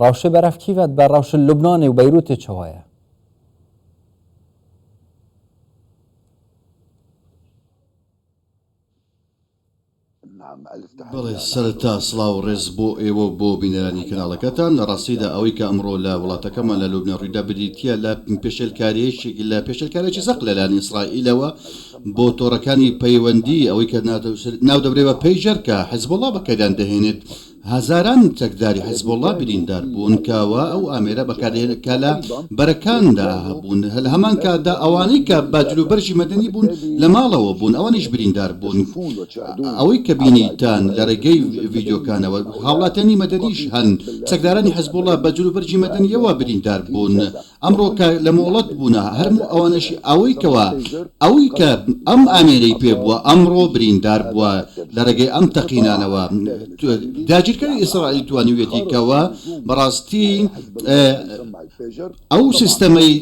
ڕەوشێ بەرەف کیڤەت بە ڕەوشە لوبنانێ و بەیروتێ چەوایە بەڵێ سەرەتا سڵاو و ڕێز بۆ ئێوە و بۆ بینەرانی کەناڵەکەتان لە ڕاستیدا ئەوەی کە ئەمڕۆ لە وڵاتەکەمان لە لوبنان ڕوویدا بریتییە لە پێشێلکاریەیشێک لە پێشێلکارێکی زەق لەلایەن ئیسرائیلەوە بۆ تۆڕەکانی پەیوەندی ئەوەی کە ناو دەبرێت بە پەیژەر کە حزبوڵڵا بەکاریان دەهێنێت هەزاران چەکداری حزبوڵڵا بریندار بوون کە وا ئەو ئامێرە بەکاردێنێت کە لە بەرەکاندا هەبوون، لە هەمان کاتدا ئەوانەی کە بە جلوبەرگی مەدەنی بوون لە ماڵەوە بوون ئەوانیش بریندار بوون، ئەوەی کە بینیتان لە رێگەی ڤیدیۆکانەوە هاوڵاتیانی مەدەنیش هەن، چەکدارانی حزبوڵڵا بە جلوبەرگی مەدەنییەوە بریندار بوون. ئەمڕۆ کە لە مۆڵەت بوونە هەرموو ئەوانەشی ئەوەی کەوا ئەوی کە ئەم ئامێرەی پێ بووە ئەمڕۆ بریندار بووە لە رێگەی ئەم تەقینانەوە داگیرکەری ئیسرائیل توانیویەتی کەوا بەڕاستی ئەو سیستەمەی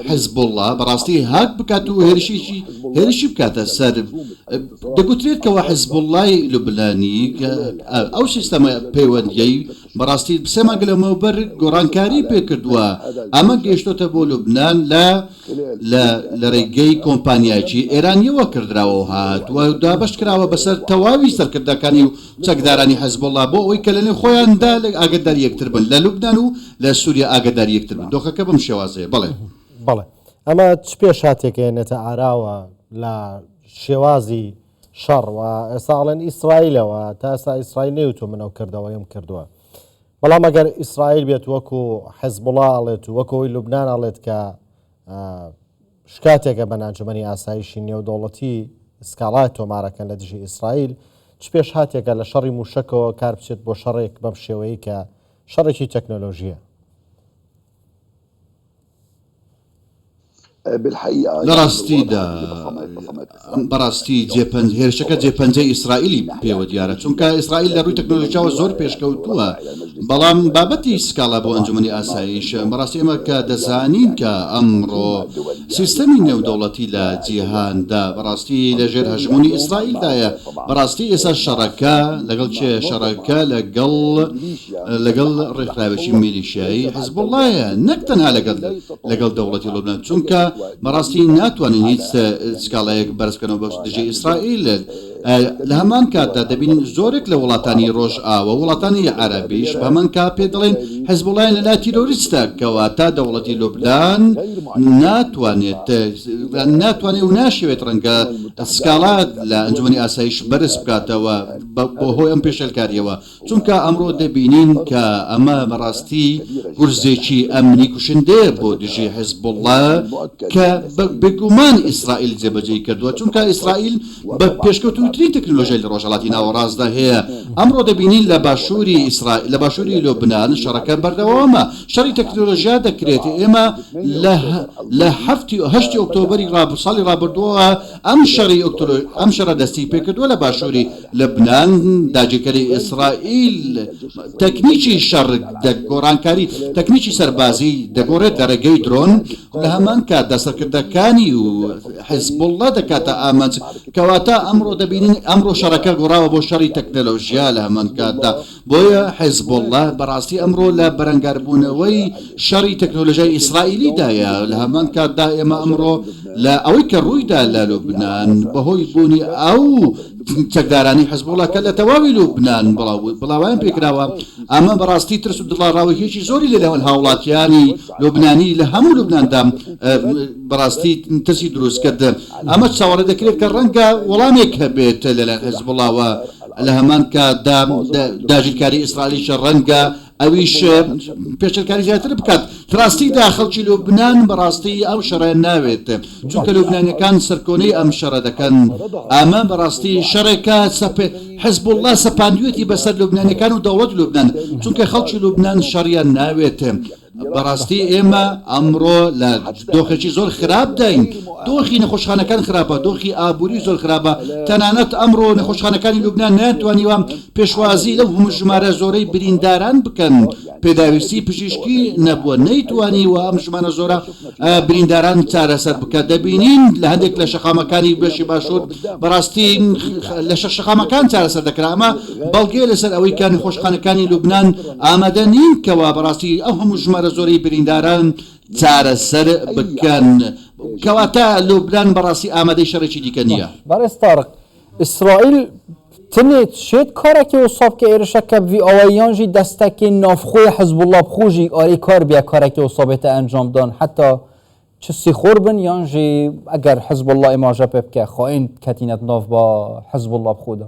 حزبوڵڵا بەڕاستی هاک بکات و هێرشیشی هێرشی بکاتە سەر دەگوترێت کەوا حزبوڵڵای لوبنانی ئەو سیستەمە پەیوەندیەی بەڕاستی سێ مانگ لەمەوبەر گۆڕانکاری پێکردووە، ئەمە گەیشتۆتە بۆ لوبنان لە لە لە رێگەی کۆمپانیایەکی ئێرانییەوە کردراوە و هاتووە و دابەش کراوە بەسەر تەواوی سەرکردەکانی و چەکدارانی حزبوڵڵا بۆ ئەوەی کە لەنێو خۆیاندا ئاگەداری یەکتر بن لە لوبنان و لە سووریا ئاگەداری یەکتر بن دۆخەکە بەم شێوازەیە بەڵێ. بەڵێ ئەمە چ پێشهاتێک ئەیەنێتە ئاراوە لە شێوازی شەڕ وە ئێستا ئەڵێن ئیسرایلە وە تا ئێستا ئیسرایل نەیوتوە من ئەو کردەوەیم کردوە بەڵام ئەگەر ئیسرایل بێت وەکو حزبوڵا ئەڵێت و وەکەوەی لوبنان ئەڵێت کە شکاتێکە بە نانجمەنی ئاسایشی نێودەوڵەتی سکاڵای تۆمارەکەن لە دژی ئیسرائیل چ پێش هاتێکە لە شەڕی موشەکەوە کار بچێت بۆ شەڕێک بەم شێوەیە کە شەڕێکی تەکنۆلۆژیە لەڕاستیدا بەڕاستی جێپەنج هێرشەکە جێپەنجەی ئیسرائیلی پێوە دیارە چونکە ئیسرائیل لە ڕووی تەکنۆلۆژیاوە زۆر پێشکەوتووە بەڵام بابەتی سکاڵا بۆ ئەنجومەنی ئاسایش بەڕاستی ئێمە کە دەزانین کە ئەمڕۆ سیستەمی نێودەوڵەتی لە جیهاندا بەڕاستی لەژێر هەژموونی ئیسرائیلدایە بەڕاستی ئێستا شەڕەکە لەگەڵ کێ شەڕەکە لەگەڵ لەگەڵ ڕێکخراوێکی میلیشیایی حزبوڵڵایە نەک تەنها لەگەڵ لەگەڵ دەوڵەتی لوبنان چونکە بەڕاستی ناتوانین هیچ سکاڵایەک بەرز بکەنەوە بە دژی ئیسرائیل لە هەمان کاتدا دەبین زۆرێک لە وڵاتانی ڕۆژئاوە وڵاتانی عەرەبیش بەمان کا پێ دەڵێن حزبوڵڵایان لەلا تیرۆریستە کەوا تا دەوڵەتی لوبنان ناتوانێت ناتوانێت و ناشەوێت ڕەنگە سکاڵات لە ئەنجومی ئاسایش بەرز بکاتەوە بۆ هۆی ئەم پێشلکاریەوە چونکە ئەمڕۆ دەبینین کە ئەمە بەڕاستی گورزێکی ئەمنی کوشندەیە بۆ دژی حزبوڵڵا کە بێگومان ئیسرائیل جێبەجێی کردووە چونکە ئیسرائیل بە پێشکەوتووترین تەکنۆلۆژیای لە ڕۆژهەڵاتی ناوەڕاستدا هەیە ئەمڕۆ دەبینین لە باشووری ئیسرائیل لە باشووری لۆبنان شەڕەکە بەردەوامە شەڕی تەکنۆلۆژیا دەکرێت ئێمە لە هەفتی و هەشتی ئۆکتۆبری ساڵی ڕابردووە ئەم شەڕی ئەم شەڕە دەستی پێکردووە لە باشووری لوبنان، داگیرکەری ئیسرائیل تەکنیکی شەڕ گۆڕانکاری تەکنیکی سەربازی دەگۆڕێت لە ڕێگەی درۆن، لە هەمان کاتدا سەرکردەکانی و حیزبوڵڵا دەکاتە ئامانج، کەواتە ئەمڕۆ دەبینین ئەمڕۆ شەڕەکە گۆڕاوە بۆ شەڕی تەکنەلۆژیا، لە هەمان کاتدا بۆیە حیزبوڵڵا بەڕاستی ئەمڕۆ لە بەرەنگاربوونەوەی شەڕی تەکنۆلۆژیای ئیسرائیلیدایە، لە هەمان کاتدا ئێمە ئەمڕۆ لە ئەوەی کە ڕوویدا لە لوبنان بەهۆی بوونی ئەو چەکدارانەی حیزبوڵڵا کە لە تەواوی لوبنان بڵاوەیان پێکراوە، ئەمە بەڕاستی ترس و دڵاڕاوکێی زۆری لە نێوان هاوڵاتیانی لوبنانی لە هەموو لوبناندا بەڕاستی ترسی دروست کرد. ئەمە چاوەڕێ دەکرێت کە ڕەنگە وەڵامێک هەبێت لەلایەن حیزبوڵڵاوە. لە هەمان کاتدا داگیرکاری ئیسرائیلیش ڕەنگە ئەویش پێشلکاری زیاتر بکات ڕاستیدا خەڵکی لوبناان بەڕاستی ئەو شەڕێن ناوێت چونکە لوبنانەکان سەرکۆنەی ئەم شەڕە دەکەن ئەمە بەڕاستی شەڕێکە سەپێ حزب الله سەپاندوێتی بەسەر لوبنانەکان و دەوڵەت لوبناان چونکە خەڵکی لوبناان شەڕیان ناوێت بەڕاستی ئێمە ئەمڕۆ لە دۆخێکی زۆر خراپداین، دۆخی نەخۆشخانەکان خراپە، دۆخی ئابووری زۆر خراپە، تەنانەت ئەمڕۆ نەخۆشخانەکانی لوبنان نەیانتوانیوە پێشوازی لەو ژمارە زۆرەی برینداران بکەن، پێداویستی پزیشکی نەبووە، نەیتوانیوە ئەم ژمارە زۆرە برینداران چارەسەر بکات، دەبینین لە هەندێک لە شەقامەکانی بەشی باشوور بەڕاستی لە شەقامەکان چارەسەر دەکرا، ئەمە بەڵگەیە لەسەر ئەوەی کە نەخۆشخانەکانی لوبنان ئامادە نین کەوا بەڕاستی ئەو هەموو ژمارە زۆرەی برینداران چارەسەر بکەن. کەواتە لوبنان بەڕاستی ئامادەی شەڕێکی دیکە نییە. بەڕێز تارق، ئیسرائیل تنێ چێد کارەکێ وسا بکە ئێرشە کە بڤی ئاوایی یان ژی دەستەکێ ناڤخوێ حزبوڵڵا بخوو ژی ئاێ کار بیا کارەکێ وسا بێتە ئەنجام دان حەتا چ سیخۆر بن یان ژی ئەگەر حزبوڵڵا ئێماژە پێ بکە خائێن کەتینەت ناڤ با حزبوڵڵا بخوو دا.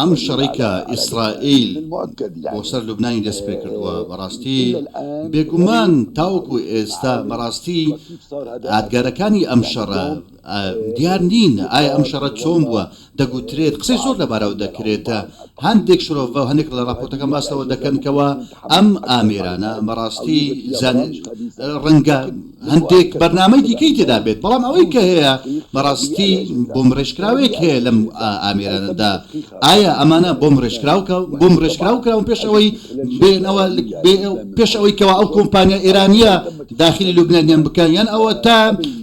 ئەم شەڕەی کە ئیسرائیل بۆ سەر لوبنانی دەست پێ کردووە بەڕاستی بێگومان تاوەکو ئێستا بەڕاستی ئادگارەکانی ئەم شەڕە دیار نین ئایا ئەم شەڕە چۆن بووە دەگوترێت قسەی زۆر لەبارەوە دەکرێتە هەندێک شرۆڤ بە هەندێک لە راپۆرتەکە باسەوە دەکەنکەوە ئەم ئامێرانە بەڕاستی ڕەنگە هەندێک بەرنامەی دیکەی تێدا بێت بەڵام ئەوەی کە هەیە بەڕاستی بۆمب ڕێژکراوەیەک هەیە لەم ئامێرانەدا ئایا ئەمانە بۆمب ڕێژکراوکە بۆمب ڕێژکراو کراون پێش ئەوەی بێنەوە پێش ئەوەی کەوا ئەو کۆمپانیا ئێرانیە داخلی لوبنانیان بکەن یان ئەوە تا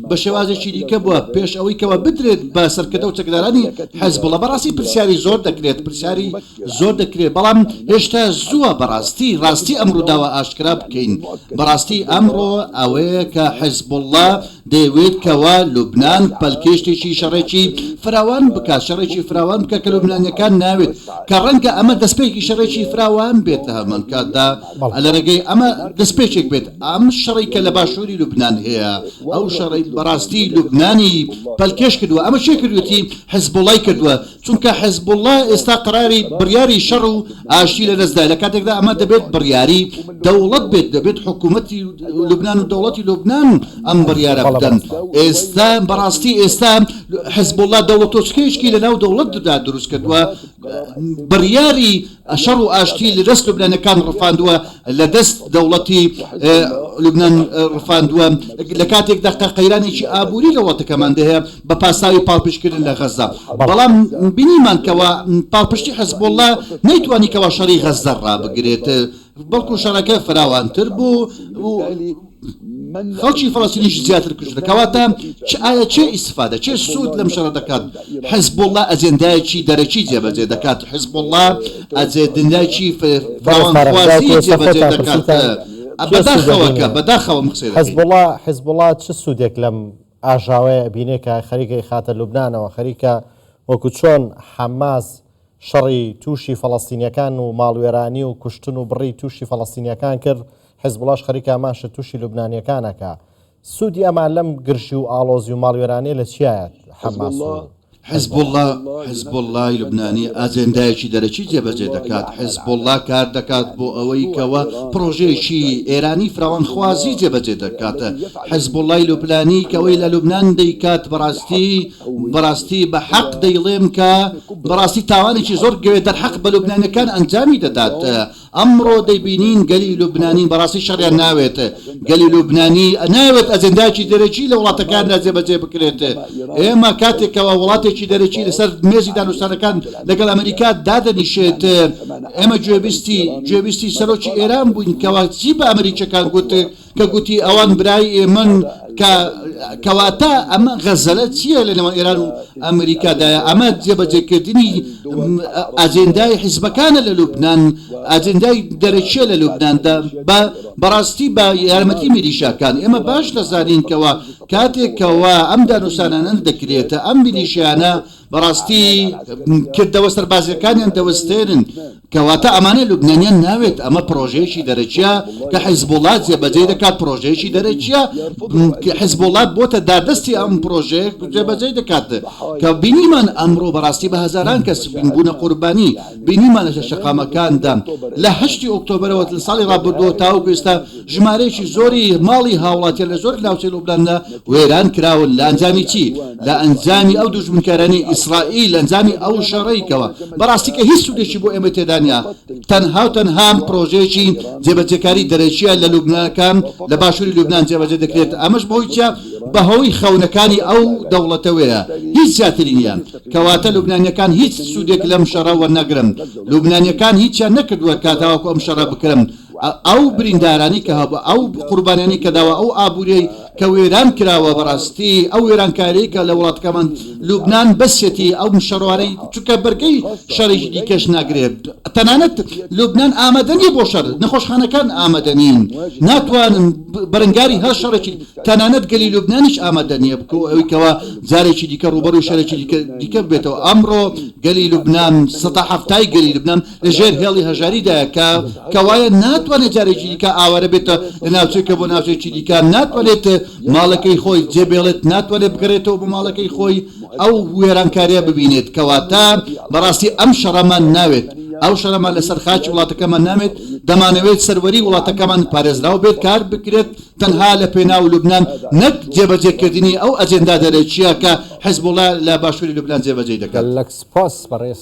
بە شێوازێکی دیکە بووە پێش ئەوەی کەوا بدرێت بە سەرکردە و چەکدارانی حەزبڵە بەڕاستی پرسیاری زۆر دەکرێت پرسیاری زۆر دەکرێت بەڵام هێشتا زووە بەڕاستی ڕاستی ئەم ڕووداوە ئاشکرا بکەین بەڕاستی ئەمڕۆ ئەوەیە کە حزبوڵڵا دەیەوێت کەوا لوبنان پەلکێشتێکی شەڕێکی فراوان بکات شەڕێکی فراوان بکە کە لوبنانیەکان ناوێت کە ڕەنگە ئەمە دەستپێکی شەڕێکی فراوان بێت لە هەمان کاتدا لە ڕێگەی ئەمە دەستپێکێک بێت ئەم شەڕی کە لە باشووری لوبنان هەیە ئەو شەڕی بەڕاستی لوبنانی پەلکێش کردووە ئەمە شێ کردوێتی حزبوڵای کردووە چونکە حزبوڵڵا ئێستا قەراری بڕیاری شەڕ و ئاشتی لە دەستدایە لە کاتێکدا ئەمە دەبێت بڕیاری دەوڵەت بێت دەبێت حکوومەتی لوبناان و دەوڵەتی لوبناان ئەم بڕیارە بدەن ئێستا بەڕاستی ئێستا حزبوڵڵا دەوڵەتۆچکەیشکی لە ناو دەوڵەتدا دروست کردووە بڕیاری شەڕ و ئاشتی لەدەست لوبنانیەکان ڕفاندووە لەدەست دەوڵەتی لوبنان ڕفاندووە لەکاتێکدا قە قەیرانێکی ئابووری لە وڵاتەکەمان دەهەیە بە پاساوی پاڵپشتکردن لە غەزە بەڵام بینیمان کەوا پاڵپشتی حزبوڵڵا نەیتوانی کەوا شەڕی غەزە ڕابگرێت بەڵکو شەڕەکە فراوانتر بوو و خەڵکی فەڵەستینیش زیاتر کوژرا، کەواتە چ ئایا چێ ئیستفادە، چێ سوود لەم شەڕە دەکات؟ حزبوڵڵا ئەجێندایەکی دەرەکی جێبەجێ دەکات، حزبوڵڵا ئەجێدندایەکی فراوانخوازی جێبەجێ دەکات، بەداخەوە کە بەداخەوە ئەم قسەی دەکەین. حزبوڵڵا حزبوڵڵا چ سوودێک لەم ئاژاوەیە ئەبینێ کە خەریکە ئیخاتە لوبنانەوە، خەریکە وەکو چۆن حەماس، شەڕی تووشی فەڵەستینیەکان و ماڵوێرانی و کوشتن و بڕی تووشی فەڵەستینیەکان کرد، حیزبوڵاش خەریکە هەمان شت تووشی لوبنانیەکان ئەکا. سوودی ئەمان لەم گرژی و ئاڵۆزی و ماڵوێرانیە لە چیایە حەماس و حیزبوڵا؟ حیزبوڵای لوبنانی ئاجێندایەکی دەرەکی جێبەجێ دەکات، حیزبوڵا کار دەکات بۆ ئەوەی کەوا پڕۆژەیەکی ئێرانی فراوانخوازی جێبەجێ دەکات، حیزبوڵای لوبنانی کەوەی لە لوبنان دەیکات بەڕاستی، بەڕاستی بە حەق دەیڵێم کە بەڕاستی تاوانێکی زۆر گەوێ دەرحەق بە لوبنانیەکان ئەنجامی دەدات ئەمڕۆ دەیبینین گەلی لوبنانی بەڕاستی شەڕیان ناوێت گەلی لوبنانی ناوێت ئەجنداکی دەرەکی لە وڵاتەکاندا جێبەجێ بکرێت ئێمە کاتێکەوە وڵاتێکی دەرەکی لەسەر مێزی دانوستانەکان لەگەڵ ئەمریکا دادەنیشێت ئێمە گوێبیستی گوێبیستی سەرۆکی ئێران بووین کەوا چی بە ئەمریکیەکان گوت کە گوتی ئەوان برای ئێمەن کە کەواتە ئەمە غەزەلە چییە لە نێوان ئێران و ئەمریکادایە ئەمە جێبەجێکردنی ئاجندای حیزبەکانە لە لوبناان ئاجندای دەرەکیە لە لوبنااندا بە بەڕاستی بە یارمەتی میلیشاکان ئێمە باش دەزانینکەوە کاتێکەوە ئەم دانوسانانە دەکرێتە ئەم میلیشیانە بەڕاستی کردەوە سەربازیەکانیان دەوەستێنن کەواتە ئەمانە لوبنانیان ناوێت، ئەمە پرۆژەیەکی دەرەکیە کە حیزبوڵا جێبەجێی دەکات، پرۆژەیەکی دەرەکیە کە حیزبوڵا بۆتە داردەستی ئەم پرۆژەیە جێبەجێی دەکات کە بینیمان ئەمڕۆ بەڕاستی بە هەزاران کەس بوونە قوربانی، بینیمان لە شەقامەکاندا لە هەشتی ئۆکتۆبەرەوە لە ساڵی ڕابردووەوە تاوەکو ئێستا ژمارەیەکی زۆری ماڵی هاوڵاتیان لە زۆر ناوچەی لوبناندا وێران کراون لە ئەنجامی چی؟ لە ئەنجامی ئەو دوژمنکارانەی ئیسرائیل لە ئەنجامی ئەو شەڕەی کەوە بەڕاستی کە هیچ سودێکی بۆ ئێمە تێدا نیە تەنها و تەنها پرۆژەیەکی جێبەجێکاری دەرەکیە لە لوبنانەکان لە باشوری لوبنان جێبەجێ دەکرێت ئەمەش بەهۆی چیە بەهۆی خەونەکانی ئەو دەوڵەتەوەیە هیچ زیاتری نیە کەواتە لوبنانیەکان هیچ سودێک لەم شەڕە وەرناگرن لوبنانیەکان هیچیان نەکردوە کاتاوەکو ئەم شەڕە بکرن ئەو بریندارانی کە هەبوو ئەو قوربانیانی کە داوە ئەو ئابووریەی کە وێران کراوە بەڕاستی ئەو وێرانکاری کە لە وڵاتەکەمان لوبناان بەسیەتی ئەو شەڕوانەی چکە بەرگەی شەڕێکی دیکەش ناگرێت تەنانەت لوبناان ئامادەنی بۆ شەر نەخۆشخانەکان ئامادەنین ناتوانن بەرەنگاری هەر شەڕێکی تەنانەت گەلی لوبنانیش ئامادە نیە بکە ئەوی کەەوە جارێکی دیکە ڕوبەر و شەرێکی دیکە بێتەوە ئەمڕۆ گەلی لوبناان سەدا هەفتای گەلی لوبناان لە ژێر هێڵی هەژاریدایە کە کەوایە ناتوانێت جارێکی دیکە ئاوارە بێتە لە ناوچەکە بۆ ناوچەکی دیکە ناتوانێت ماڵەکەی خۆی جێبێڵێت ناتوانێت بگەرێتەوە بۆ ماڵەکەی خۆی ئەو وێرانکاریە ببینێت کەواتە بەڕاستی ئەم شەڕەمان ناوێت ئەو شەرەمان لەسەر خاچی وڵاتەکەمان نامێت دەمانەوێت سەروەری وڵاتەکەمان پارێزراو بێت کار بکرێت تەنها لە پێناو لوبناان نەک جێبەجێکردنی ئەو ئەجێندا دەرەکیە کە حزبڵە لە باشووری لوبناان جێبەجێ دەکات لەک سپاس بەڕێز